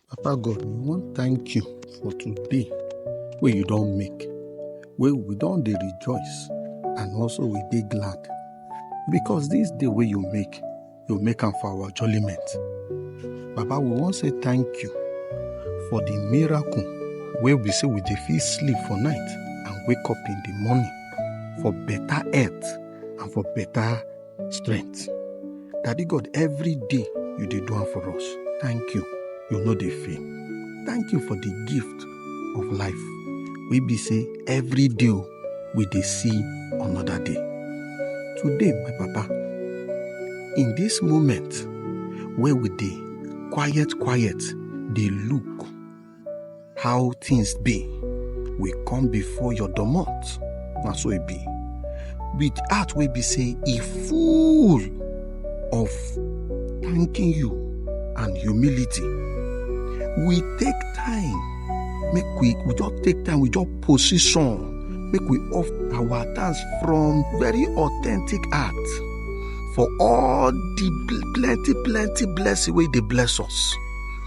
Papa God, we wan thank you for today wey you don make, wey we don dey rejoice and also we dey glad because this day wey you make, you make am for our jollyment. Baba, we wan say thank you for the miracle wey be say we dey fit sleep for night and wake up in the morning for better health and for better strength. Daddy God, every day you dey do am for us. Thank you. You no dey fail. Thank you for the gift of life. We be say every day o, we dey see another day. Today, my papa, in this moment wey we dey quiet quiet dey look how things be we come before your domot na so e be with heart wey be say e full of thanking you and humility we take time make we we just take time we just position make we off our thanks from very authentic heart for all the plenty plenty blessing wey dey bless us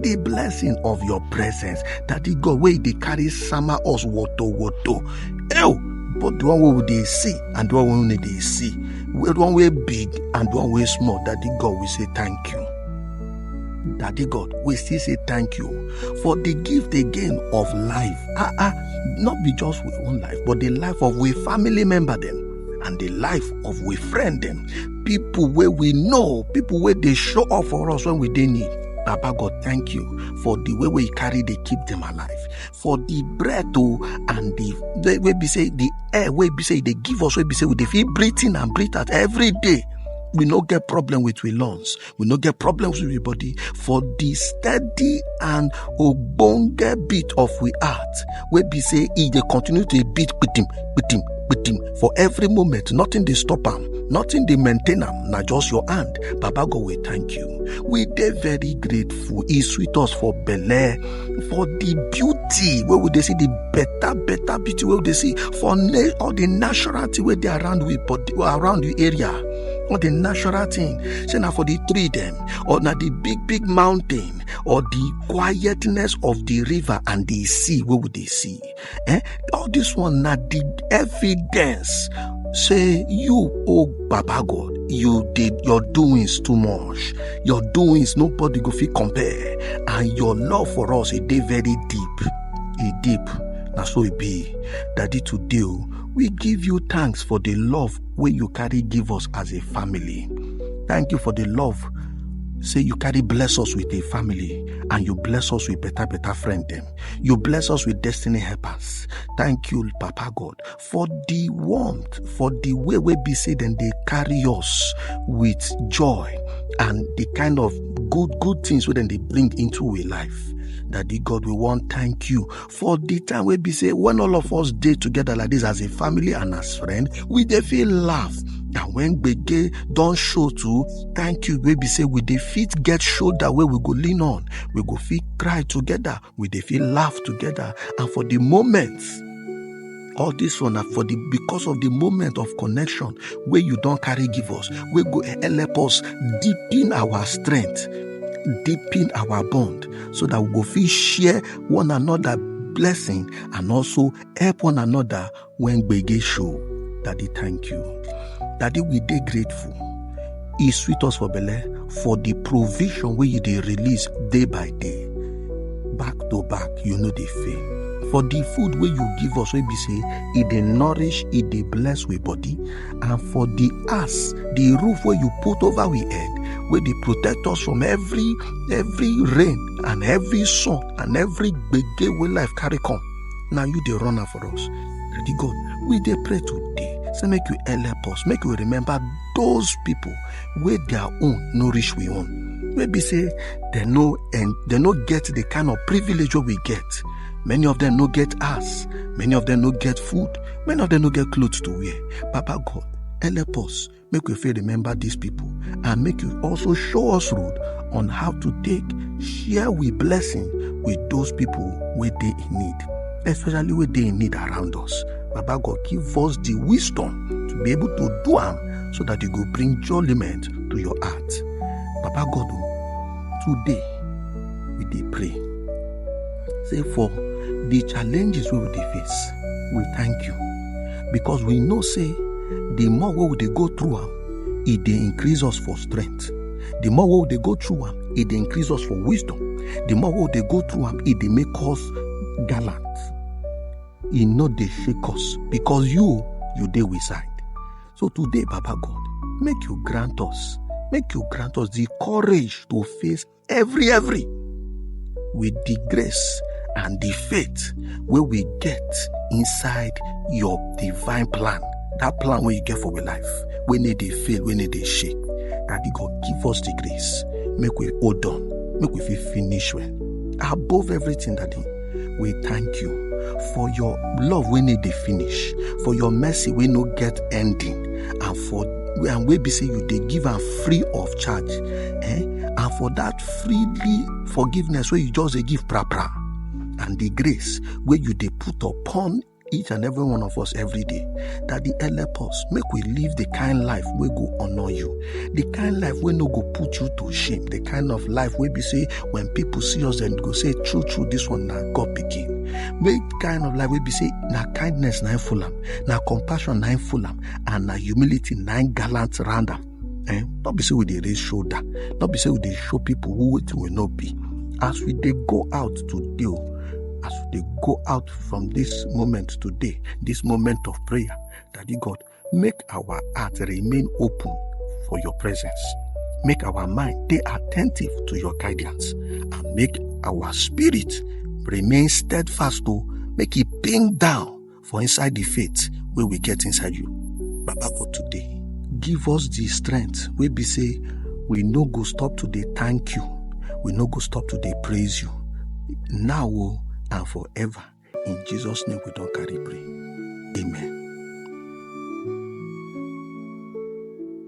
the blessing of your presence daddy god wey dey carry sama us woto woto ew but the one wey we dey see and the one wey we no dey see the one wey big and the one wey small daddy god we say thank you daddy god we still say thank you for the gift again of life ah ah not be just we own life but the life of we family member dem and the life of we friend dem people wey we know people wey dey show up for us when we dey need Baba God, thank you for the way we carry they keep them alive, for the breath oh, and the, the way we say the air, way we say they give us, way we say we they feel breathing and breathe out every day. We no get problem with we lungs. We no get problems with we body for the steady and obonge beat of we heart. We be say if they continue to beat bitim, bitim, bitim for every moment. Nothing they stop them. Nothing they maintain them. Now just your hand. Baba God, we thank you. we dey very grateful e sweet us for belle for the beauty wey we dey see the better better beauty wey we dey see for na- all the natural thing wey dey around we body around the area all the natural thing say na for the tree dem or na the big big mountain or the quietness of the river and the sea wey we dey see Eh? All this one na the evidence say you oh baba god you did your doings too much your doings nobody go fit compare and your love for us e dey very deep e deep na so e be daddy today o we give you thanks for the love wey you carry give us as a family thank you for the love say you carry bless us with a family and you bless us with better better friend dem You bless us with destiny helpers. Thank you, Papa God, for the warmth, for the way we be say then they carry us with joy and the kind of good, good things we then they bring into our life. Daddy God, we want thank you for the time we be say when all of us day together like this as a family and as friend, we they feel laugh. And when Bege don't show too, thank you, we be say we defeat get shoulder where we go lean on. we go fit cry together we dey fit laugh together and for the moment all this one na for the because of the moment of connection wey you don carry give us wey go help us deepen our strength deepen our bond so that we go fit share one another blessing and also help one another When Gbege show, Daddy thank you. Daddy we dey grateful. E sweet us for belle for the provision wey you dey release day by day. Back to back, you no dey fail. For the food wey you give us wey be say e dey nourish, e dey bless we body and for the house, the roof wey you put over we head wey dey protect us from every every rain and every sun and every gbege wey life carry come. na you dey run am for us daddy god we dey pray today say make you help us make we remember those people wey their own no reach we own wey be say dem no en- dem no get the kind of privilege wey we get many of them no get house many of them no get food many of them no get clothes to wear papa god help us make we fit remember these people and make you also show us road on how to take share we blessing with those people wey dey in need especially wey dey in need around us baba god give us the wisdom to be able to do am so that e go bring joliment to your heart baba god o today we dey pray say for the challenges wey we dey face we thank you because we know say the more wey we dey go through am e dey increase us for strength the more wey we dey go through am e dey increase us for wisdom the more wey we dey go through am e dey make us gallant e no dey shake us because you you dey we side so today baba god make you grant us make you grant us the courage to face every every with the grace and the faith wey we get inside your divine plan that plan wey you get for your life wey no dey fail wey no dey shake daddy god give us the grace make we hold on make we fit finish well above everything daddy we thank you for your love wey no dey finish for your mercy wey no get ending and for and wey be say you dey give am free of charge eh? and for that freely forgiveness wey you just dey give pra pra and the grace wey you dey put upon each and every one of us every day that the help us make we live the kind life wey go honor you the kind life wey no go put you to shame the kind of life wey be say when people see us dem go say true true this one na god pikin make kind of life wey be say na kindness na im full am na compassion na im full am and na humility na im gallant round am Eh? Not be say we dey raise shoulder. Not be say we dey show people who it will not be. As we dey go out to deal, oh, as we dey go out from this moment today, this moment of prayer, Daddy God, make our heart remain open for your presence. Make our mind be attentive to your guidance and make our spirit remain steadfast to oh, make it ping down for inside the faith wey we get inside you. Baba for today, give us the strength wey be say we no go stop to dey thank you, we no go stop to dey praise you now o and forever. In Jesus' name we don carry pray. Amen.